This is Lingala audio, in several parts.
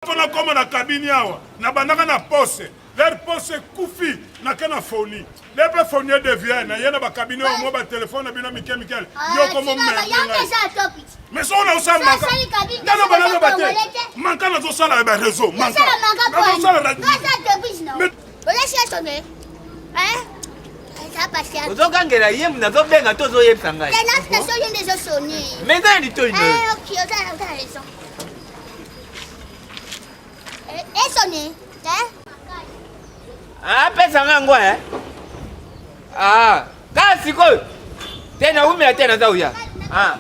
mpo nakoma na kabini awa nabandaka na pose ler pose ekufi nake na foni le mpe foni edevie na ye na bakabini oyo mwa batelefone na bino mike mikele ah, yoko momerdengai mais soko naosalmaka naloba naloba te manka nazosala ya bareseau manka nazosala radio ozogangela ye nazobenga to ozoyebisa ngai mais nani to ino Esoni, eh? Ah, pesa nga ngwa eh. Ah, kasi ko. Tena umela tena za uya. Ah.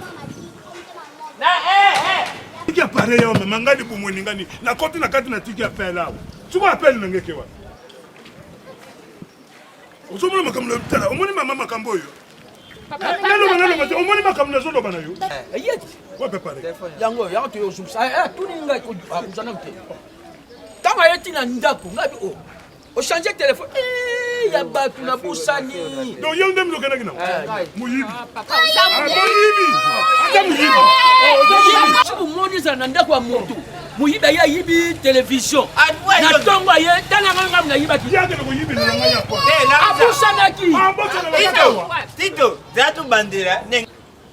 Na eh eh. Tiki appareil yo mama ngani bumweni ngani. Na koti na kati na tiki appel awo. Tuma appel na ngeke wa. Ozomona makambo na tala. Omoni mama makambo yo. naloba naloba te omoni makambo nazoloba na yo yango yango toyozumisa tuni ngai koza nanu te ntango aye ti na ndako ngai bi o ochange telefone ya bato na bosani donc yo nde milokendaki na moyibi moyibi ata moyibi omoni ezala na ndako ya moto moyibi aye ayibi television na ntongo aye tala ngai ngambo nayibaki abosanaki tito za tobandela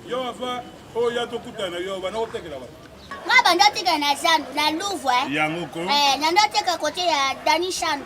yo ava oyo ya tokutana yo bana kotekela bato nga banda tika na zandu na louvre eh? yango ko eh, nando ateka kote ya dani shandu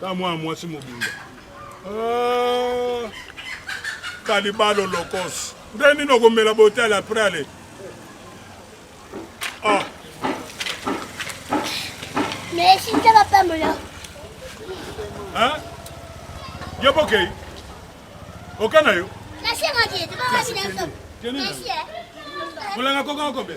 ta mwana mwasi mobimba ah, kalibalo lokos nde nini okomela botale apres ale ah. yo bokei oka na yo kolanga kokanga kobe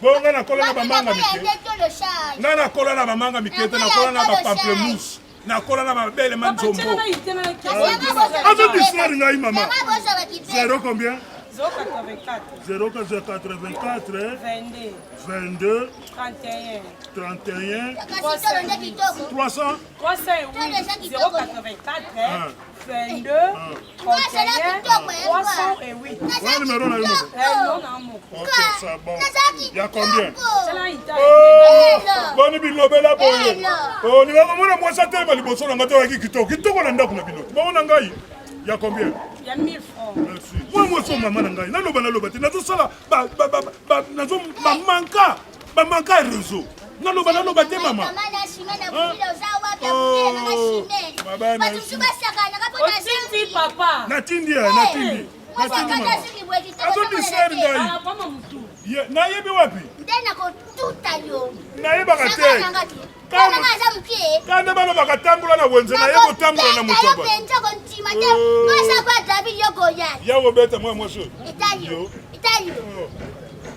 bongo ngai nakola na bamanga mike ngai nakola na bamanga mike te nakola na bapamplemousse nakola na babele ma nzombo azo distraire ngai mama zero combien 084 22 31 300 boni bilobela boye olinga komona mwasi atelema liboso na ngai te oyaki kitoko kitoko na ndako na bino bango na ngai ya combien ya 1000 francs merci moi moi so maman na ngai naloba naloba te nazosala nazo mamanka Ba manka réseau. Naloba naloba te mama. Natindi ya natindi. Azodistraire ngai. Nayebi wapi? Nde nakotuta yo. Nayebaka te. kanda bana bakatambola na wenze na ye kotambola na moto ya kobeta mwa mwasi oyo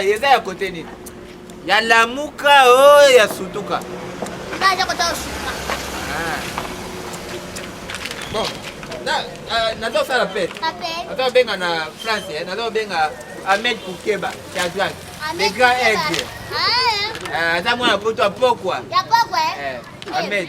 eza ya kote nini ya lamuka o oh, ya sutuka bon nazosala pe naza obenga na france eh, naza obenga ahmed kukeba shazak le grand aigle aza mwana poto ya pokwa ahmed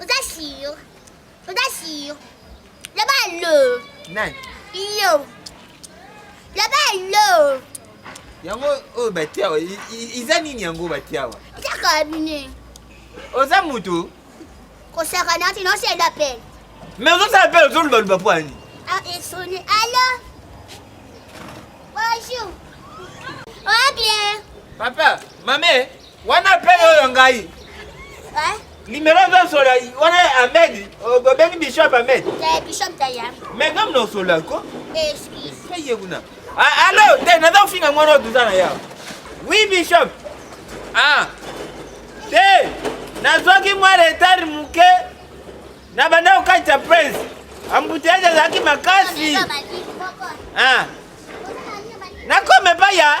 Oza sur. Oza sur. Loba lo. Nani? Yo. Loba lo. Yango oyo batiawa iza nini yango batiawa? Eza kabine. Oza moto? Kosaka nati non c'est d'appel. Mais ozosala appel ozoluba luba po ani? Ah, esoni. Allo. Bonjour. Oh bien. Papa, mamee. Wana pe oyo ngai. Eh? Numéro 20 sur la wana Ahmed, obengi Bishop Ahmed. Eh Bishop Daya. Mais comme non sur la ko. Excuse. Peye kuna. Ah allo, te na donc finga mwana oduza na ya. Oui Bishop. Ah. Te nazwaki mwa retard moke na banda kokatisa prince ambuteyage azalaki makasi ah. nakoma epai ya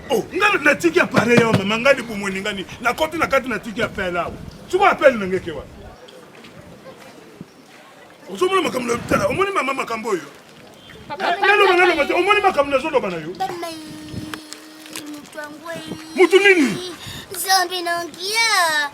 Oh, nga natiki appareil awa mama nga libumu eningani nakoti na kati natiki appel awa siko appel na ngeke wana ozomona makambo na tala omoni mama makambo oyo naloba naloba te omoni makambo nazoloba na yo motu nini zambe nangia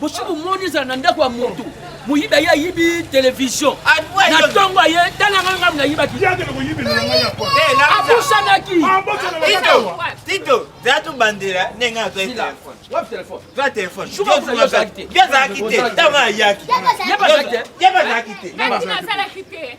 bosi bomoni ezala na ndako ya motu moyibi aye ayibi televizio na ntongo aye talanga ngai nayibaki abusanaki tito za tobandela ndenge azwai telefone azalaki te ntango ayaki ye bazalaki te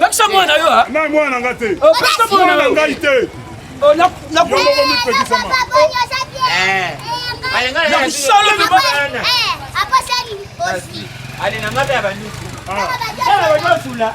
pekisa mwana yo na mwana nga te pekisa mwana na ngai te nakusalobabanyosula